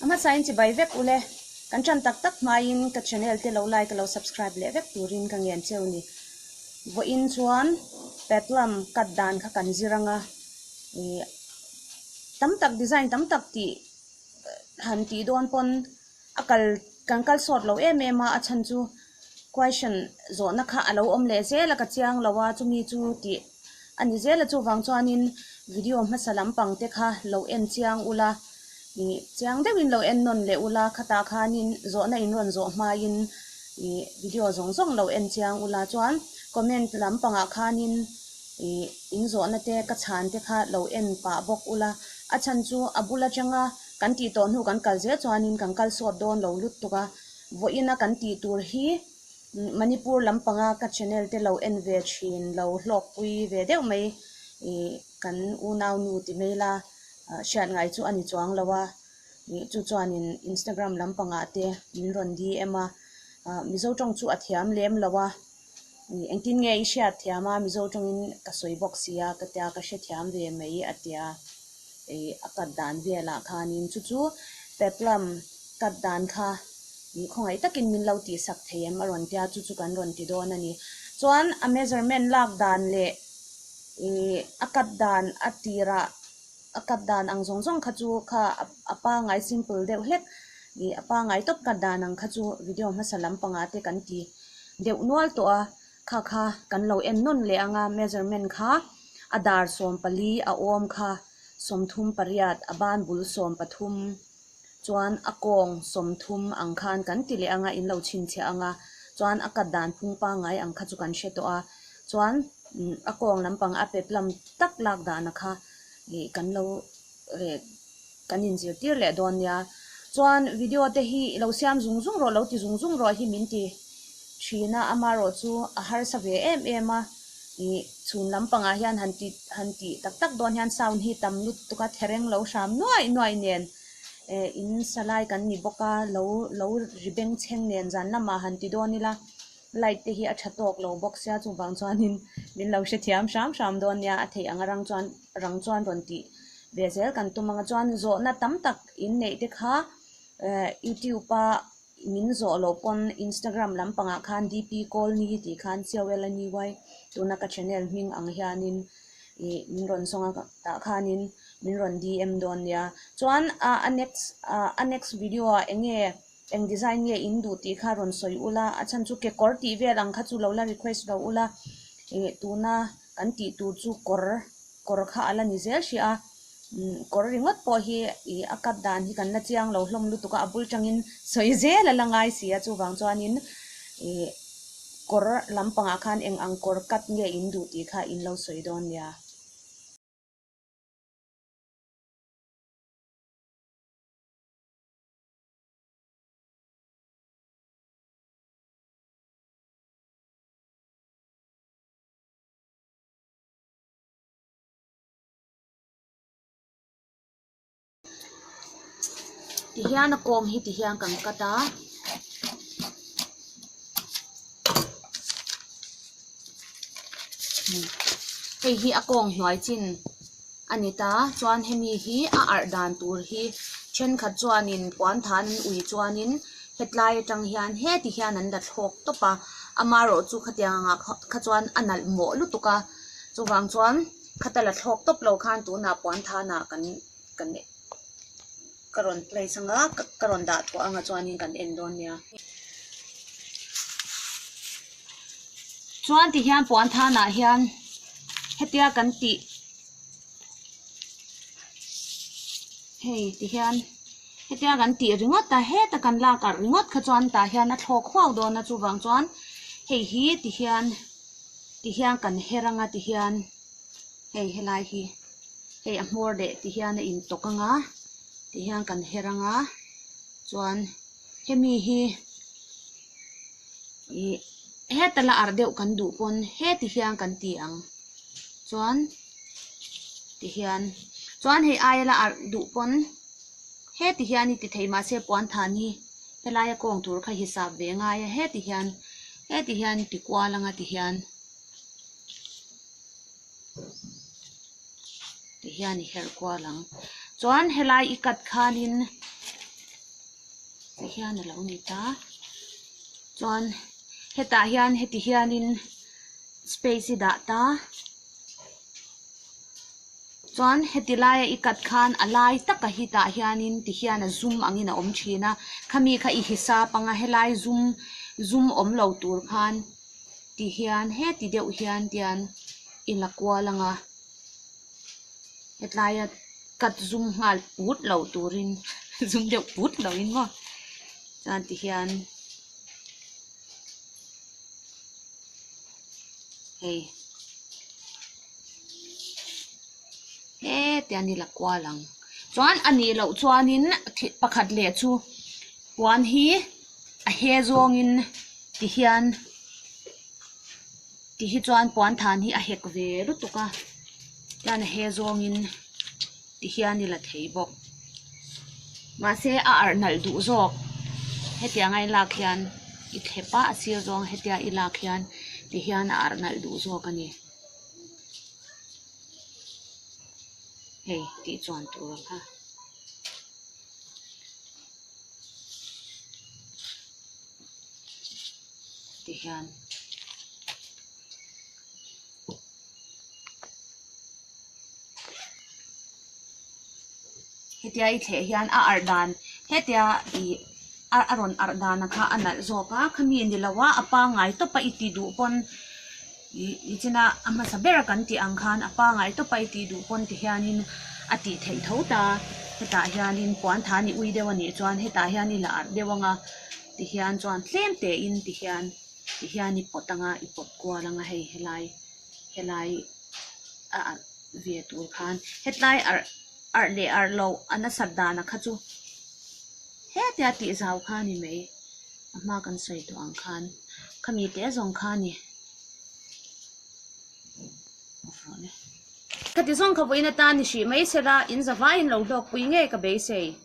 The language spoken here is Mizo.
Hmasa in chibai vek ule, kan tan tak tak hmain ka channel te lo like lo subscribe leh vek turin ka ngen che u ni. Vawi in chuan peplum cut dan kha kan zir anga ih tam tak design tam tak tih han tih dawn pawn, a kal kan kal sawt lo em em a a chhan chu question zawhna kha a lo awm leh zel a ka chiang lo a chumi chu tih a ni zel a chuvang chuanin video hmasa lam pang te kha lo en chiang ula ih chiang deuh in lo en nawn leh ula khatah khanin zawhna in rawn zawh hmain ih video zawng zawng lo en chiang ula chuan comment lam pangah khanin ih in zawhna te ka chhan te kha lo en pah bawk ula a chhan chu a bul atanga. Kan tih tawh hnu kan kal zel chuanin kan kal sawt dawn lo luttuk a, vawiina kan tih tur hi Manipur lam panga ka channel te lo en ve thin, lo hlawkpui ve deuh mai kan unau nu ti mai la hriat ngai chu a ni chuang lo a, chu chuanin Instagram lam pangah te min rawn DM a, Mizo tawng chu a thiam lem lo a. Engtin nge i hriatthiam a, Mizo tawngin ka sawi bawk sia, ka tia ka hrethiam ve mai, a tia. Ei, a cut dan velah khanin chu chu Peplum cut dan kha ih khawngaih takin min lo tihsak thei em? a rawn tia, chu chu kan rawn ti dawn a ni. Chuan a measurement lak dan leh ih a cut dan a tirah A cut dan ang zawng zawng kha chu kha a pangai simple deuh hlek ih a pangai tawp cut dan ang kha chu video hmasa lam panga te kan ti deuh nual tawh a, kha kha kan lo en nawn leh ang a measurement kha a dar sawm pali a awm kha sawmthum pariat a ban bul sawm pathum. chuan a kawng sawmthum ang khan kan ti leh anga in lo chhinchhiah anga chuan a cut dan phung pangai ang kha chu kan hre tawh a chuan a kawng lampang a pe plum tak lak dana kha ih kan lo eh kan in zir tir leh dawn nia chuan video te hi i lo siam zung zung rawh lo ti zung zung rawh hi min ti thin a amaherawhchu a harsa ve em em a. Ih chhun lam pangah hian han ti han ti tak tak dawn hian sound hi tam lut tuk a thereng lo hram nuai nuai nen eh in salai kan ni bawk a lo lo ri beng chheng nen zan lamah han ti dawn ila light te hi a tha tawk lo bawk sia chuvang chuanin min lo hrethiam hram hram dawn nia a theih ang a rang chuan rang chuan rawn tih ve zel kan tum anga chuan zawhna tam tak inneih te kha eh youtube a min zawh loh pawn instagram lampangah khan d p kawlni tih khan c o l a ni uai tuna ka channel hming ang hianin ih min rawn zawng a tah khanin min rawn d m dawn nia chuan ah a next ah a next video ah eng nge eng design nge in duh tih kha rawn sawi ul a a chhan chu kekawr tih vel ang kha chu lo la request loh ula ih tuna kan tih tur chu kawr kawr kha a la ni zel hria. Kawr ringawt pawh hi ih a cut dan hi kan la chiang lo hlawm lutuk a, a bul tangin sawi zel a la ngai si a, chuvang chuanin ih kawr lam pangah khan eng ang kawr cut nge in duh tih kha in lo sawi dawn nia. Tihian a kawng hi tihian kan cut a. Hei hi a kawng hnuai chin a ni ta chuan hemi hi a arh dan tur hi thenkhat chuanin puan tha an ui chuanin hetlai atang hian heti hian an la thlawk tawp a amarawhchu khatiang anga kha chuan a nalh mawh lutuk a chuvang chuan-- khata la thlawk tawp lo khan tunah puan thanah kan kan ka rawn place ang a ka rawn dah thuah ang a chuanin kan en dawn nia chuan tihian puan thanah hian hetia kan tih hei tihian hetia kan tih ringawt a heta kan lak arh ringawt kha chuan tah hian a thlawk huau dawn a chuvang chuan hei hi tihian. ti hian kan her anga ti hian hei helai hi hei a hmawr leh ti hian a in tawk anga ti hian kan her anga chuan hemi hi ih hetala arh deuh kan duh pawn he ti hian kan ti ang chuan ti hian chuan hei aia la arh duh pawn he ti hian i ti theih mahse puanthan hi helaia kawng tur kha hisap ve ngai a he ti hian. heti hian ti kual anga ti hian ti hian i herh kual ang chuan helai i cut khanin ti hian a lo ni ta chuan hetah hian heti hianin space i dah ta. Chuan heti laia i kat khan a lai taka hitah hianin ti hian a zum angin a awm thin a, khami kha i hisa panga helai zum zum awm lo tur khan ti hian heti deuh hian ti hian i la kual anga hetlaia kat zum nghal put lo turin zum deuh put loin maw chuan ti hian. hei he tia ni la kual ang chuan a nih loh chuanin thih pakhat leh chu puan hi a he zawngin ti hian ti hi chuan puanthan hi a hek ve lutuk a chuan a he zawngin. ti hian i la thei bawk. Mahse, a arh nalh duh zawk hetianga i lak hian i thlep a, a sir zawng hetia i lak hian ti hian a arh nalh duh zawk a ni. Hei tih chuan tura kha. Ti hian. hetia i thleh hian a arh dan hetia ih a a rawn arh dan a kha a nalh zawk a khami a ni lo a a pangai tawp a i tih duh pawn ih nichina a hmasa ber a kan tih ang khan a pangai tawp a i tih duh pawn ti hianin a tih theih tho ta hetah hianin puantha a nih ui deuh a nih chuan hetah hian i la arh deuh ang a ti hian chuan tlem tein ti hian. Tihian i pawt anga i pawt kual anga hei helai helai a arh ve tur khan hetlai arh arh leh arh loh a nasat dana kha chu hetia tih zau kha ni mai a hma kan sawi tawh ang khan khami te zawng kha ni khati zawng kha vawiin atan ni hrih mai sela in zavaiin lo hlawkpui ngei ka beisei.